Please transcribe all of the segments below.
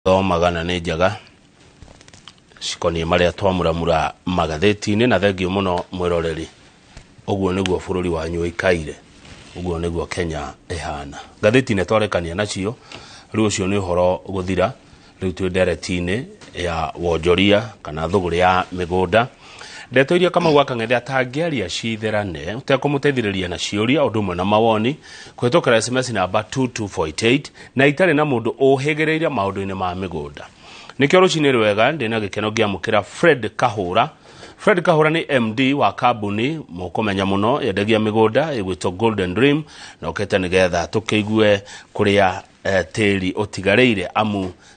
Thoo magana nĩ njega cikoniĩ marĩa twamuramura magathĩti-inĩ na thengiũ mũno mwĩroreri ũguo nĩguo bũrũri wanyu ũikaire ũguo nĩguo kenya ĩhana ngathĩti nĩ twarekania nacio rĩu ũcio nĩ ũhoro gũthira rĩu twĩ ndereti-inĩ ya wonjoria kana thũgũrĩ ya mĩgũnda Ndeto iria Kamau wa Kang'ethe atangĩaria citherane ũtekũmũteithĩrĩria na ciũria ũndũ ũmwe na mawoni kũhĩtũkĩra SMS namba 22488 na itarĩ na mũndũ ũhĩgĩrĩire maũndũ-inĩ ma mĩgũnda. Nĩkĩo rũcinĩ rwega ndĩ na gĩkeno ngĩamũkĩra Fred Kahũra. Fred Kahũra nĩ MD wa kambuni mũkũmenya mũno yendagia mĩgũnda ĩgwĩtwo Golden Dream na ũkĩte nĩgetha tũkĩigue kũrĩa eh, tĩri ũtigarĩire amu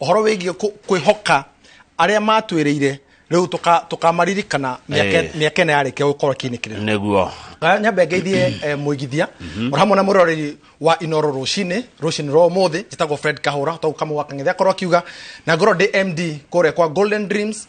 ũhoro wĩgiĩ kũ- kwĩhoka arĩa matwĩrĩire rĩu tũka- tũkamaririkana mĩaka- Eh. mĩaka ĩno yarĩkia gũkorwo kĩnĩkĩrĩra nĩguo Aya, nyambe ngeithie eh, mũigithia oro hamwe na mũroreri wa inoro rũcinĩ rũcinĩ rwa ũmũthĩ njĩtagwo fred kahũra twaguka mũgwakang'ethi akorwo akiuga na ngorwo ndĩ md kũrĩa kwa golden dreams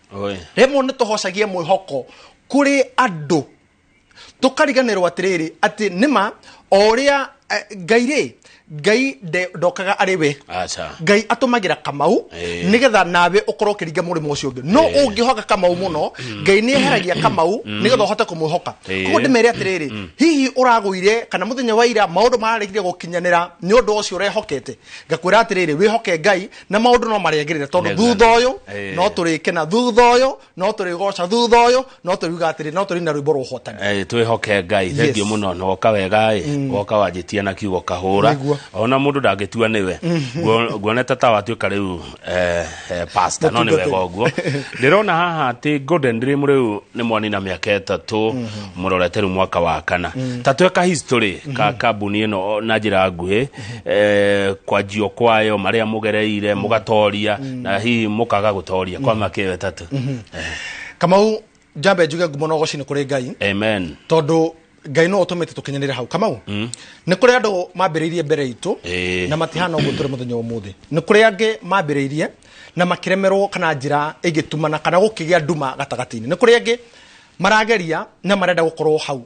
Oi. rĩmwe nĩ tũhocagia mwĩhoko kũrĩ andũ tũkariganĩrwo atĩrĩrĩ atĩ nĩma o ũrĩa eh, ngai rĩ ngai nde- ndokaga arĩ we Acha. ngai atũmagĩra kamau Eh. nĩgetha nawe ũkorwo ũkĩringa mũrĩmo ũcio ũngĩ no Eh. ũngĩhoka kamau mũno ngai nĩ eheragia kamau nĩgetha ũhote kũmwĩhoka Eh. koguo ndĩmere atĩrĩrĩ hihi ũragũire kana mũthenya wa ira maũndũ mararegire gũkinyanĩra nĩ ũndũ ũcio ũrehokete ngakwĩra atĩrĩrĩ wĩhoke ngai na maundu no marĩagĩrĩre tondu Nĩ thutha thani. ũyũ Eh. no tũrĩkena thutha ũyũ no tũrĩgoca thutha ũyũ no tũriuga atĩrĩ no tũrĩina rwĩmbo rwa ũhotani Eh, twĩhoke ngai Yes. thengiå må no woka wega ä woka wanjä tia na kiugo kahå ra Nĩguo. ona må ndå ndangä tua nä we Nguo- nguonete ta watuä ka rä u pasta no nä wega Mũtungatĩri. å guo ndä rona haha atä golden dream rä u nä mwanina mä aka ätatå må rorete rä u mwaka wa kana ta tweka history ka kambuni ä no na njä ra nguhä eh, kwanjio kwayo maria mugereire mugatoria na hihi mukaga gutoria kwa makewe tatu kamau njambe njuge ngumo na ũgocini kũrĩ ngai amen tondũ ngai no ũtũmĩte tũkinyanĩre hau kamau nĩ kũrĩ andũ mambĩrĩirie mbere itũ Ĩĩ. na matihana ũguo tũrĩ mũthenya wa ũmũthĩ nĩ kũrĩ angĩ mambĩrĩirie na makĩremerwo kana njĩra ĩngĩtumana kana gũkĩgĩa nduma gatagatĩ-inĩ nĩ kũrĩ angĩ marageria na marenda gũkorwo hau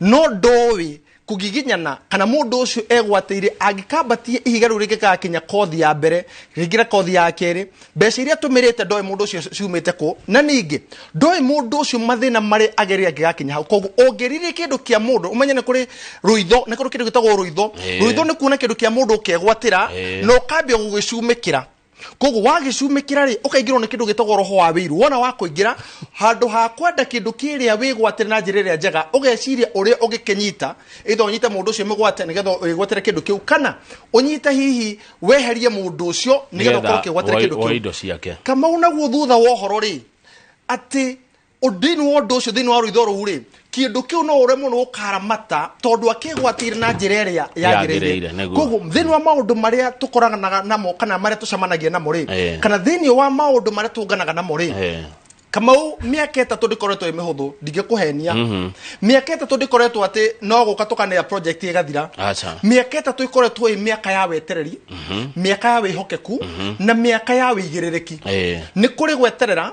no ndoĩ kũgiginyana kana mũndũ ũcio egwatĩire angĩkambatie ihiga rĩu rĩngĩgakinya kothi ya mbere rĩingĩre kothi ya kerĩ mbeca iria tũmĩrĩte ndoĩ mũndũ ũcio ciumĩte kũ na ningĩ ndoĩ mũndũ ũcio mathĩna marĩa agerire angĩgakinya hau koguo ũngĩririre kĩndũ kĩa mũndũ ũmenye nĩ kũrĩ rũitho nĩ kũrĩ kĩndũ gĩtagwo rũitho Eh. rũitho nĩ kuona kĩndũ kĩa mũndũ ũkegwatĩra Eh. na ũkambia gũgĩcumĩkĩra koguo wagĩcumĩkĩra rĩ ũkaingĩrwo nĩ kĩndũ gĩtagwo roho wa wĩiru wona wa kũingĩra handũ ha kwenda kĩndũ kĩrĩa wĩgwatĩre na njĩra ĩrĩa njega ũgeciria ũrĩa ũngĩkĩnyita ĩtha ũnyite mũndũ ũcio mĩgwate nĩgetha wĩgwatĩre kĩndũ kĩu kana ũnyite hihi weherie mũndũ ũcio nĩgetha ũkorwo ũkĩgwatĩra kĩndũ kĩu indo ciake kamau naguo thutha wa ũhoro rĩ atĩ thĩinĩ wa ũndũ ũcio thĩinĩ wa rũitho rũu rĩ kĩndũ kĩu no ũremwo nĩ gũkaramata tondũ akĩgwatĩire na njĩra ĩrĩa Yagĩrĩire, yagĩrĩire nĩguo. koguo thĩinĩ wa maũndũ marĩa tũkoranaga namo kana marĩa tũcemanagia namo rĩ Eh. kana thĩinĩ wa maũndũ marĩa tũnganaga namo rĩ Eh. kamau mĩaka ĩtatũ ndĩkoretwo ĩ mĩhũthũ ndingĩkũhenia mĩaka ĩtatũ ndĩkoretwo atĩ no gũka tũkanea project ĩgathira Aca. mĩaka ĩtatũ ĩkoretwo ĩ mĩaka ya wetereri mĩaka ya wĩhokeku na mĩaka ya wĩigĩrĩrĩki Eh. nĩ kũrĩ gweterera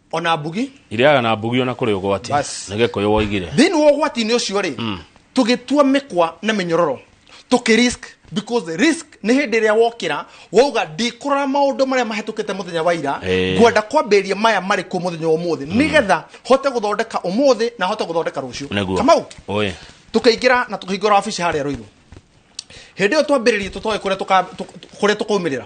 ona mbugi irĩaga na mbugi ona kũrĩ ũgwati Bas. nĩ gĩkũyũ woigire thĩinĩ wa ũgwati-inĩ ũcio rĩ tũgĩtua mĩkwa na mĩnyororo tũkĩ risk because risk nĩ hĩndĩ ĩrĩa wokĩra wauga ndikũrora maũndũ marĩa mahĩtũkĩte mũthenya wa ira Eh. ngwenda kwambĩrĩria maya marĩ kuo mũthenya wa ũmũthĩ nĩgetha hote gũthondeka ũmũthĩ na hote gũthondeka rũciũ nĩguo kamau Ũĩ. tũkaingĩra na tũkahingũra wabici harĩa rũirũ hĩndĩ ĩyo twambĩrĩrie tũtoĩ kũrĩa tũka- tũ- kũrĩa tũkaumĩrĩra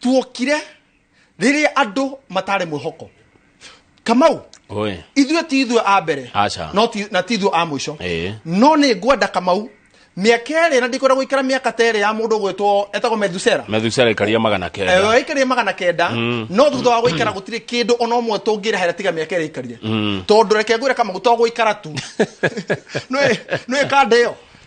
tuokire rĩrĩa andũ matarĩ mwĩhoko kamau Oi. ithuĩ ti ithuĩ a mbere Aca. no ti- na ti ithuĩ a mũico Ĩĩ. no nĩ ngwenda kamau mĩaka ĩrĩ na ndikwenda gũikara mĩaka ta ĩrĩ ya mũndũ gwĩtwo etagwo methusera methusera ikaria magana kenda aikarire magana kenda no thutha wa gũikara gũtirĩ kĩndũ ona ũmwe tũngĩrehera tiga mĩaka ĩrĩa aikarire tondũ reke ngwĩre kamau to gũikara tu nĩ kanda ĩyo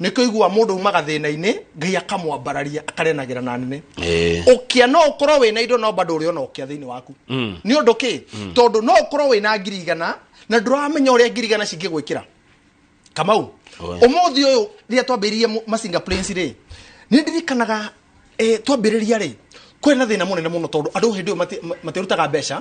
nĩkĩo igua mũndũ umaga thĩna-inĩ ngai akamwambararia akarenagĩra na nene Eh. ũkĩa no ũkorwo wĩna indo no bado ũrĩona ũkĩa thĩinĩ waku Mm. nĩ ũndũ kä Mm. tondũ no ũkorwo wĩna ngiri igana na ndũramenya ũrĩa ngiri igana cingĩgwĩkĩra kamau Oe. ũmũthĩ ũyũ rĩrĩa twambĩrĩirie mu- masinga planes rĩ nĩ ndirikanaga eh, twambĩrĩria rĩ kwĩ na thĩna mũnene mũno tondũ andũ hĩndĩ ĩyo mati- ma- matirutaga mbeca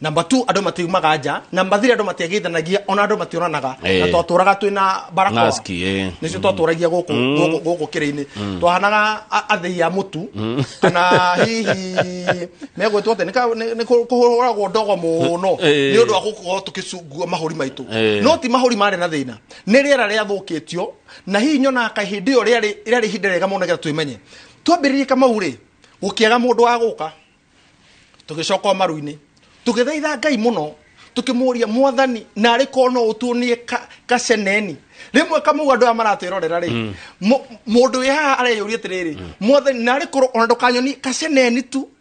namba tu andũ matiumaga nja namba thiri andũ matiagĩithanagia ona andũ mationanaga Eh. na twatũraga twĩ na barakoa Mask, eh. nĩcio twatũragia gũkũ gũkũ- gũkũ kĩrĩ-inĩ twahanaga a- athĩi a mũtu kana hihi megwĩtwo atĩ nĩ ka- nĩ- nĩ kũ- kũhũragwo ndogo mũno Eh. nĩ ũndũ wa gũkorwo tũkĩcungua mahũri maitũ Eh. no ti mahũri marĩ na thĩna nĩ rĩera rĩathũkĩtio na hihi nyonaga kaĩ hĩndĩ ĩyo rĩarĩ rĩarĩ ihinda rĩega mũno nĩgetha twĩmenye twambĩrĩrie kamau rĩ gũkĩaga mũndũ wa gũka tũgĩcoka o maru-inĩ tũgĩthaitha ngai mũno tũkĩmũria mwathani narĩ korwo no ũtuonie ka- kaceneni rĩmwe kamau andũ aya maratwĩrorera rĩ mũ- mũndũ wĩ haha areyũria atĩrĩrĩ mwathani narĩ korwo ona ndũkanyoni kaceneni tu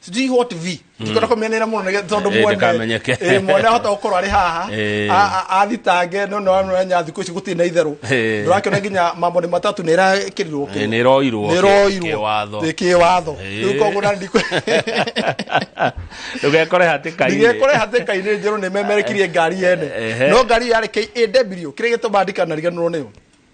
sijui what v ndikwenda kũmenera mũno nĩgetha- tondũ Eh, mwene- ndakamenyeke. eh, mwene ahota gũkorwo arĩ haha Eh. a- a- athitange no nonenya thikũ ici gũtirĩ na itherũ Eh. ndũrakĩona nginya mambo nĩ matatũ nĩ ĩrakĩrirwo Eh, nĩ ĩroirwo nĩ ĩroirwo kĩwatho Ĩ, kĩwatho Eh. rĩu koguo na ndikwe ndũgekore hatĩka-inĩ ndigekore hatĩka-inĩ njerũ nĩ memerekirie ngari yene Ehe. no ngari yarĩ KAW kĩrĩa gĩtũmaga ndikanariganĩrwo nĩyo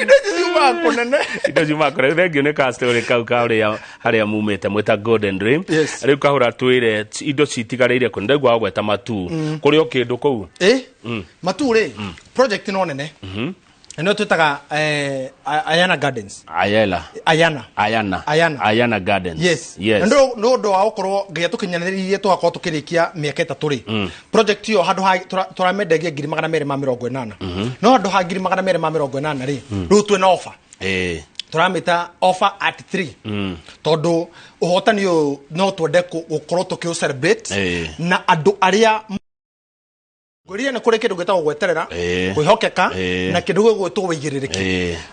indo ici ciumaga kũnene indo ciumaga kũnene thengio nĩ kastori kau karĩa harĩa mumĩte mwĩta golden ray Yes. rĩu kahũra twĩre t- indo citigarĩire kũ ndaigua gweta matu kũrĩ o kĩndũ kũu ĩ matu rĩ project no nene na nĩyo twĩtaga eh, A- ayana gardens ayela ayana ayana Ayana. ayana gardens yes yes nä å ndå wa gå korwo nginya tå kinyanä tågakorwo tå kä rä kia mä aka ä tatå rä project ĩyo handũ ha tũra- tũramendagia ngiri magana merĩ ma mĩrongo ĩnana no handũ ha ngiri magana merĩ ma mĩrongo ĩnana rĩ rĩu twĩ na ofa Eh, tũramĩta offer at 3 mm. tondũ ũhotani ũyũ no twende kũ- gũkorwo tũkĩũ celebrate Eh. na andũ arĩa ngwĩrire nĩ kũrĩ kĩndũ gĩtagwo gweterera Eh. kwĩhokeka Eh. na kĩndũ gĩgwĩtwo wĩigĩrĩrĩki Eh.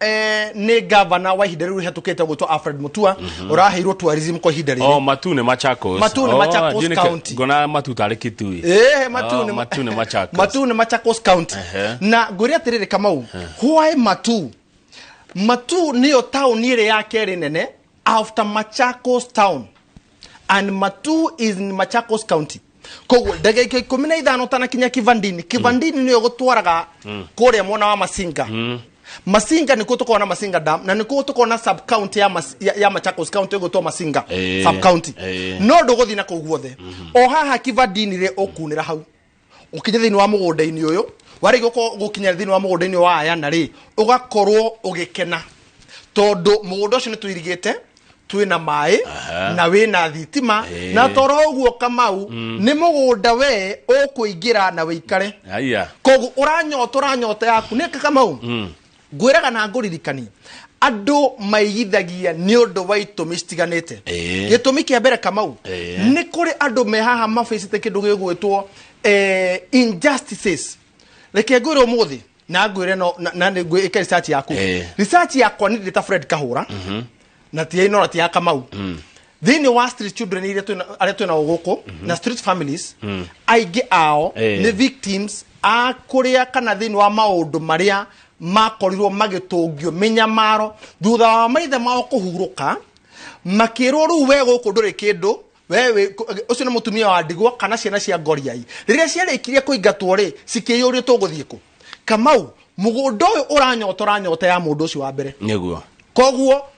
eh, nä ngavana wa ihinda rä u rä hetå kä te gwä two alfred må tua å raheirwo tourism kwa ihinda rä Oh, matu nä machakos Matu nĩ Machakos County. ngona matu tarä kä tui Eh, matu Oh, nĩ- matu nĩ Machakos. matu nĩ Machakos county Ehe. na ngwĩre atĩrĩrĩ kamau why matu matu nĩyo taũni ĩrĩ ya kerĩ nene after Machakos town and matu is in machakos county koguo ndagĩka ikũmi na ithano tanakinya kivandini kivandini nĩyo gũtwaraga kũrĩa mwena wa masinga masinga nĩkuo tũkoragwo na masinga dam na nĩkuo tũkoragwo na sub county ya, mas, ya, ya machakos county ĩgwĩtwo masinga Eh, sub county eh. no ndũgũthiĩ na kũu guothe o haha kivandini rĩ ũkunĩra hau ukinye thiini wa mugunda-ini uyu warigi gukorwo gukinya thiini wa mugunda-ini wa ayana ri ugakorwo ugikena tondu mugunda ucio ni tuirigite twĩ na maĩ na wĩ na thitima na toro ũguo kamau nĩ mũgũnda we ũkũingĩra na wĩikare aya koguo ũranyota ũranyota yaku nĩ kamau ngwĩraga na ngũririkanie andũ maigithagia nĩ ũndũ wa itũmi citiganĩte Ĩĩ. gĩtũmi kĩa mbere kamau Ĩĩ. nĩ kũrĩ andũ me haha mabĩcĩte kĩndũ gĩgwĩtwo eh, injustices reke ngwĩre ũmũthĩ na ngwĩre no- na- na nĩ- ngwĩ- ĩka research yaku Ĩĩ. research yakwa nĩ ndĩta fred kahũra na ti ĩno na ti ya kamau thĩinĩ wa street children iria twĩna- arĩa twĩ nao gũkũ na street families aingĩ ao Eh. nĩ victims a kũrĩa kana thĩinĩ wa maũndũ marĩa makorirwo magĩtũngio mĩnyamaro thutha wa maithe mao kũhurũka makĩrwo rĩu we gũkũ ndũrĩ kĩndũ we wĩ- kũ- ũcio nĩ mũtumia wa ndigwa kana ciana cia ngoriai rĩrĩa ciarĩkirie kũingatwo rĩ cikĩyũrio tũgũthiĩ kũ kamau mũgũnda ũyũ ũranyotora nyota ya mũndũ ũcio wa mbere nĩguo koguo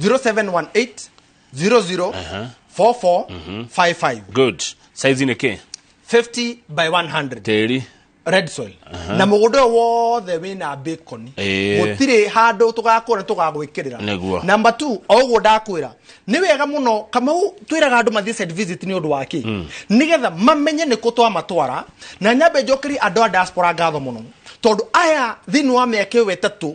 0718 00 44 55 good saizi nä kä 50 by 100 tĩri red soil na mũgũnda ũyũ wothe wĩna bacon Ĩĩ. gũtirĩ handũ tũgakũra tũgagwĩkĩrĩra Nĩguo. namba t o ũguo ndakwĩra nĩ wega mũno kamau twĩraga andũ mathiĩ site visit nĩ ũndũ wake nĩgetha mamenye nĩ kũ twamatwara na nyambe njokerie andũ a diaspora ngatho mũno tondũ aya thĩinĩ wa mĩaka ĩyo ĩtatũ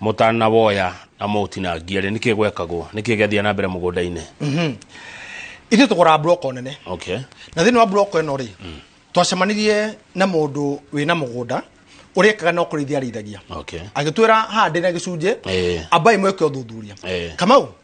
mũtanawoya na mũũtinangie rĩ nĩkĩ gwekagwo nĩkĩ gĩathiaga na mbere mũgũnda-inĩ mhm. ithuĩ tũgũraga mburoko nene okay. na thĩinĩ wa mburoko ĩno rĩ mm. twacemanirie na mũndũ wĩ na mũgũnda urekaga no kurithia arithagia okay. agitwira hande na gicunje eh. ambai mweke uthuthuria eh. kamau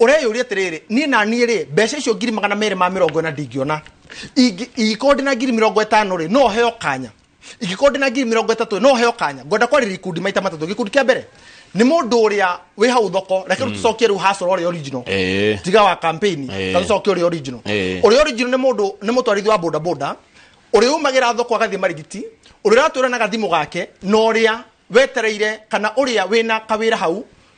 ũreyũria atĩrĩrĩ niĩ na niĩ rĩ mbeca icio ngiri magana merĩ ma mĩrongo ĩna ndingĩona Ingĩ- ingĩkorwo ndĩ na ngiri mĩrongo ĩtano rĩ no heo kanya ingĩkorwo ndĩ na ngiri mĩrongo ĩtatũ rĩ, no heo kanya ngwenda kwarĩria ikundi maita matatũ gĩkundi kĩa mbere nĩ mũndũ ũrĩa wĩ hau thoko reke rĩu tũcokie rĩu hasoro ũrĩa original Eh. tiga wa kampeni Eh. ta tũcokie ũrĩa original Eh. ũrĩa original nĩ mũndũ nĩ mũtwarithia wa bodaboda ũrĩa umagĩra thoko agathiĩ marigiti ũrĩa ũratwĩra na gathimũ gake na ũrĩa wetereire kana ũrĩa wĩna kawĩra hau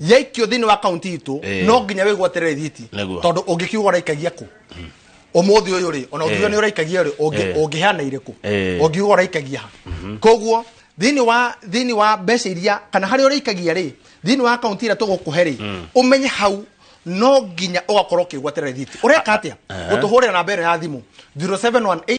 yaikio thĩinĩ wa kaunti itũ Eh. no nginya wĩgwo aterere thiti Nĩguo. tondũ ũngĩkiuga ũraikagia kũ ũmũthĩ ũyũ rĩ ona ũngiuga Eh. nĩ ũraikagia rĩ ũngĩ- Eh. ũngĩheana irĩkũ Eh. ũngiuga ũraikagia ha koguo thĩinĩ wa thĩinĩ wa mbeca iria kana harĩa ũraikagia rĩ thĩinĩ wa kaunti ĩrĩa tũgũkũhe rĩ ũmenye hau no nginya ũgakorwo ũkĩgwaterera thiti ũreka atĩa Aha. gũtũhũrĩra namba ĩno ya thimũ 0718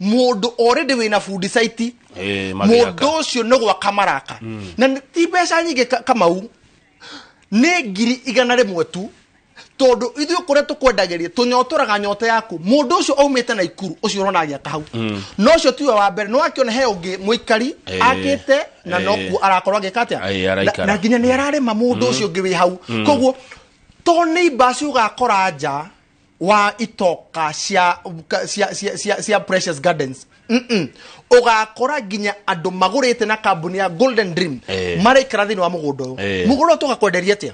mũndũ already wĩna bundi saiti Eh, magĩaka. mũndũ ũcio nĩ gwaka maraka na nĩ- ti mbeca nyingĩ ka- kamau nĩ ngiri igana rĩmwe tu tondũ ithuĩ kũrĩa tũkwendagĩria tũnyotoraga nyota yaku mũndũ ũcio aumĩte na ikuru ũcio ũrona agĩaka hau no ũcio tiwe wa mbere no akĩona he ũngĩ mũikari Eh, akĩte na eh. nokuo arakorwo agĩka atĩa Ai, Na- araikara. na nginya nĩ ararĩma mũndũ ũcio ũngĩ wĩ hau koguo to nĩ imbaci ũgakora nja wa itoka cia cia cia cia, cia precious gardens Mm-mm. ũgakora nginya andũ magũrĩte na kambuni ya golden dream Eh. maraikara thĩinĩ wa mũgũnda ũyũ Eh. mũgũnda ũyũ tũgakwenderia atĩa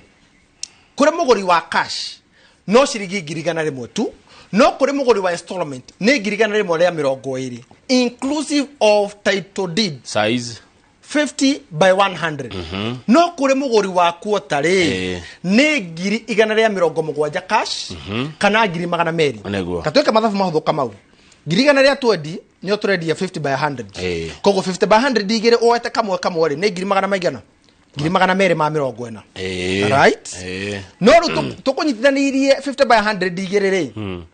kũrĩ mũgũri wa cash no ciringi ngiri igana rĩmwe tu no kũrĩ mũgũri wa installment nĩ ngiri igana rĩmwe rĩa mĩrongo ĩrĩ inclusive of title deed size 50 by 100 no kuri muguri wa kuota ri Eh. ni ngiri igana ria mirongo mugwanja cash kana ngiri magana meri Nĩguo. katuike mathabu mahuthu kamau ngiri igana ria twendi nio turendia 50 by 100 Eh. koguo 50 by 100 igiri uete kamwe kamwe ri ni ngiri magana maigana ngiri magana meri ma mirongo ina Eh. right Eh. no riu tukunyitithanirie 50 by 100 igiri ri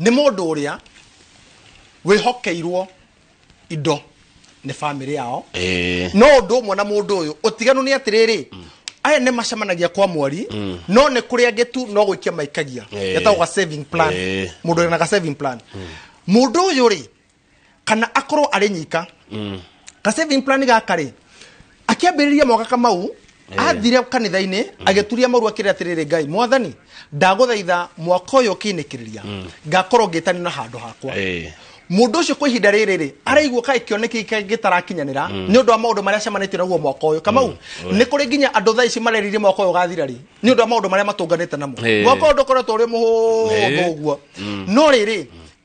nĩ mũndũ ũrĩa wĩhokeirwo indo nĩ bamĩrĩ yao Eh, no ũndũ ũmwe na mũndũ ũyũ ũtiganu nĩ atĩrĩrĩ aya nĩ macemanagia kwa mweri no nĩ kũrĩa angĩ tu no gũikia maikagia Eh. getagwo ga saving plan Eh. mũndũ wĩna ga saving plan mũndũ ũyũ rĩ kana akorwo arĩ nyika mm. ka saving plan gaka rĩ akĩambĩrĩria mogaka mau athire kanitha-inĩ mm. agĩturia maru akĩrĩ atĩrĩrĩ ngai mwathani ndagũthaitha mwaka ũyũ ũkĩnĩkĩrĩria mm. ngakorwo ngĩtani na handũ hakwa mundu ucio kwa ihinda riri ri araigua kai kioneki gitarakinyanira mm. ni undu wa maundu maria cemanite naguo mwaka uyu kamau mm. ni kuri nginya andu thaa ici mareririe mwaka uyu gathira ri ni undu wa maundu maria matunganite namo mwaka undu ukoretwo uri muhuthu uguo mm. no riri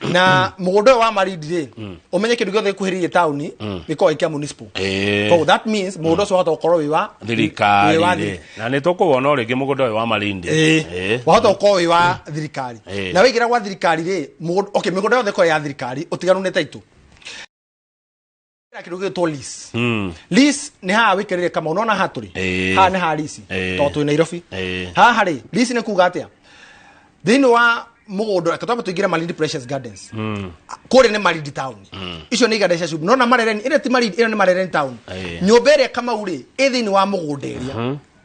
na mũgũnda ũyũ wa marindi rĩ ũmenye kĩndũ gĩothe gĩkuhĩrĩirie taũni gĩkoragwo gĩkĩa municipal Eh. koguo that means mũgũnda ũcio wahota gũkorwo wĩ wa thirikari wĩ wa rĩ. na nĩ tũkũwona å rä ngä må gå nda å yå wa marindi Eh, wahota gũkorwo wĩ wa thirikari Eh. na waingĩra gwa thirikari rĩ mũgũnda- okay, mĩgũnda yothe ĩkorwo ya thirikari ũtiganu nĩ taitũ kira kindu gitwo lis Mm. lis ni haha wikirire kama unaona haha turi Eh. haha ni haha lisi Eh. to twi nairobi Eh. haha ri lisi ni kuga atia thiini wa mugundu reke twambe tuingire malindi precious gardens kuria ni malindi town icio ni iganda cia cumbĩ nona marereni ĩrĩa ti malindi ĩno ni marereni town Eh. nyũmba ĩrĩa kamau rĩ ĩ thiini wa mũgũnda ĩrĩa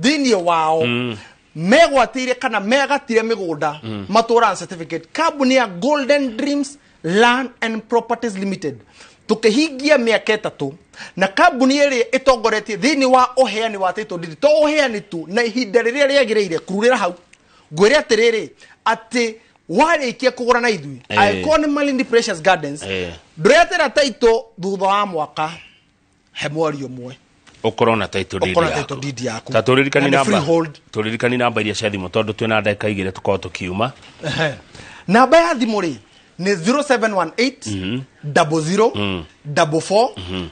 thĩinĩ wao mm. megwatĩire kana megatire mĩgũnda mm. matũra na certificate kambuni ya golden dreams land and properties limited tũkĩhingia mĩaka ĩtatũ na kambuni ĩrĩa ĩtongoretie thĩinĩ wa ũheani wa title deed to ũheani tu na ihinda rĩrĩa rĩagĩrĩire kururĩra hau ngwĩre atĩrĩrĩ atĩ warĩkia kũgũra na ithuĩ Eh. angĩkorwo nĩ Malindi Precious Gardens Eh. ndũretĩra taito thutha wa mwaka he mwari ũmwe ukorwo na title deed Ũkorwo na yaku. title deed yaku. ta turirikani Na nĩ namba freehold. turirikani namba iria cia thimũ tondũ twĩna ndagĩka igĩrĩ tukorwo tukiuma Ehe. namba ya thimũ rĩ nĩ 0718 double zero double four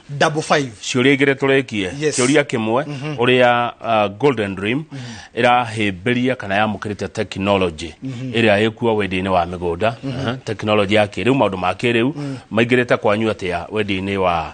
double five ciũria igĩrĩ tũrĩkie Yes. kĩũria kĩmwe ũrĩa uh, golden dream ĩrahĩmbĩria kana yamũkĩrĩte tekinoronjĩ ĩrĩa ĩkuo wendia-inĩ wa mĩgũnda Aha, tekinoronjĩ ya kĩrĩu maũndũ ma kĩrĩu maingĩrĩte kwanyu atĩa wendia-inĩ wa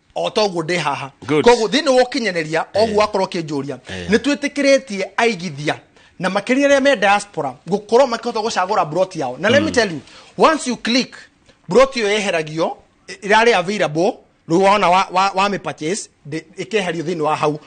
o ta ũguo ndĩ haha Good. koguo thĩinĩ wa ũkinyanĩria oguo wakorwo ũkĩnjũria Eh. nĩ twĩtĩkĩrĩtie aigithia na makĩria arĩa me diaspora gũkorwo makĩhota gũcagũra broti yao na let me tell you once you click broti ĩyo yeheragio ĩ- ĩrarĩ available rĩu wona wa, wa, wa mĩpurchase ndĩ- ĩkeherio thĩinĩ wa hau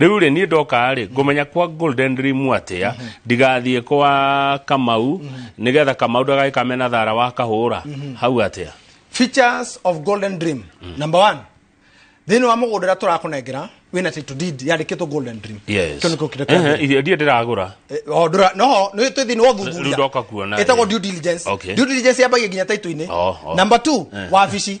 rĩu rĩ niĩ ndoka rĩ ngũmenya kwa golden dream atĩa ndigathiĩ kwa kamau nĩgetha kamau ndagagĩ kamena thara wa kahũra hau atĩa features of golden dream number one thĩinĩ wa mũgũnda ũrĩa tũrakũnengera wĩna title deed yandĩkĩtwo golden dream Yes. kĩu nĩkĩo kĩrĩa Ehe, kĩagĩrĩire. irio ndiĩ ndĩragũra Eh, o, ndũra- no nĩ twĩ thĩinĩ wa Rĩu ndoka kuona, ũthuthuria ĩtagwo eh. due diligence Okay. due diligence yambagia nginya title-inĩ Oh, oh. number two wabici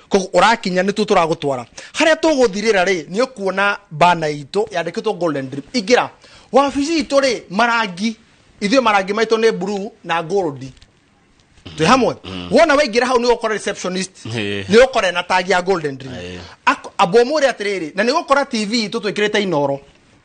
koguo ũrakinya nĩtuo tũragũtwara harĩa tũgũthirĩra rĩ nĩ ũkuona bana itũ yandĩkĩtwo golden dream ingĩra wabici itũ rĩ marangi ithuĩ marangi maitũ nĩ blue na gold twĩ hamwe wona waingĩra hau nĩ ũkora receptionist Eh. nĩ ũkora ena tagi ya golden dream Eh. Ak- ambomũre atĩrĩrĩ na nĩ gũkora tv itũ twĩkĩrĩte inoro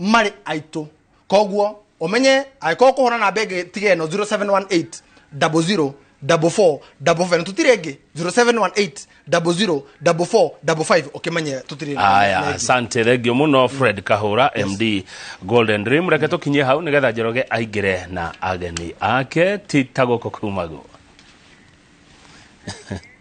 marĩ aitũ koguo ũmenye angĩkorwo kũhũra namba ĩngĩ tiga ĩno 0718 double zero double four double five tũtirĩ ĩngĩ 0718 double zero double four double five ũkĩmenye tũtirĩ na- na aya ĩngĩ. asante thengio muno fred kahura md golden dream reke tukinyie hau nigetha njoroge aingire na ageni ake ti ta gũkũ kumagu